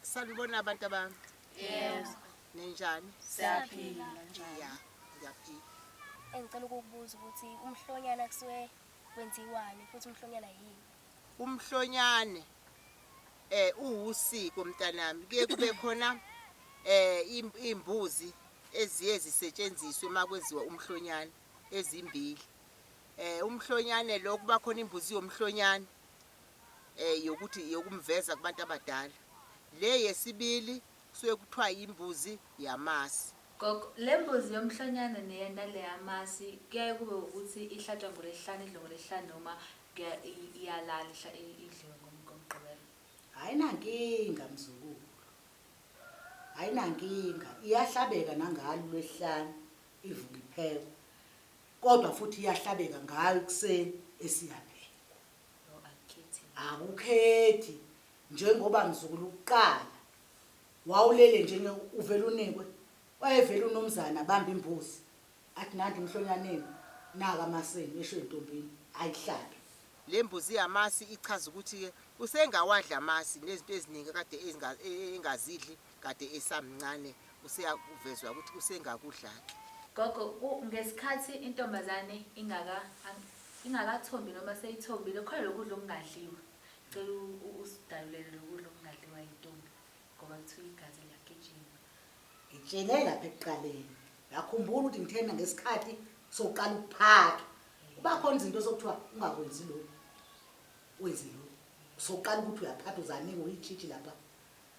Salibona abantu abami. Yes. Ninjani? Siyaphila njani? Yeah, ngiyaphila. Engicela ukukubuza ukuthi umhlonyana kusuke kwenziwani futhi umhlonyana yini? Umhlonyane eh uwusiko mntanami kuye kube khona eh imbuzi eziye zisetshenziswe makwenziwa umhlonyane ezimbili. Eh umhlonyane lo kuba khona imbuzi yomhlonyane eh yokuthi yokumveza kubantu abadala. Le yesibili kusuke kuthiwa imbuzi yamasi. Gogo, lembuzi yomhlonyane neyamasi kuyaye kube ukuthi ihlatshwa ngolesihlanu idliwe ngolesihlanu noma iyalala idliwe ngomgqibelo? Ayinankinga mzukulu, ayinankinga iyahlabeka nangalo ulwesihlanu ivuke iphekwe kodwa futhi iyahlabeka ngayo ekuseni esiyaphekwa. No akukhethi mina. Akukhethi njengoba mzukulu kuqala wawulele nje nge uvele unikwe wayevele unomzane abambe imbuzi athi nanti emhlonyaneni naka amasenu esho entombini ayihlabe. Le mbuzi yamasi ichaza ukuthi-ke usengawadli amasi nezinto eziningi akade engazidli Kade esamncane useyakuvezwa ukuthi usengakudlake. Gogo ku ngesikhathi intombazane ingaka ingakathombi noma seyithombile khona lokudla okungadliwa cela usidalulele lokudla okungadliwa yintombi ngoba kuthiwa igazi liyagijima. Ngitshele lapha ekuqaleni ngakhumbula ukuthi ngithena ngesikhathi sokuqala ukuphaka kuba khona izinto esokuthiwa ungakwenzi lokhu wenze lokhu sokuqala ukuthi uyaphatha uzaniwe uyitshitshi lapha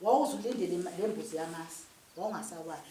Wawuze ulindele lembuzi yamasi wawungasawayi.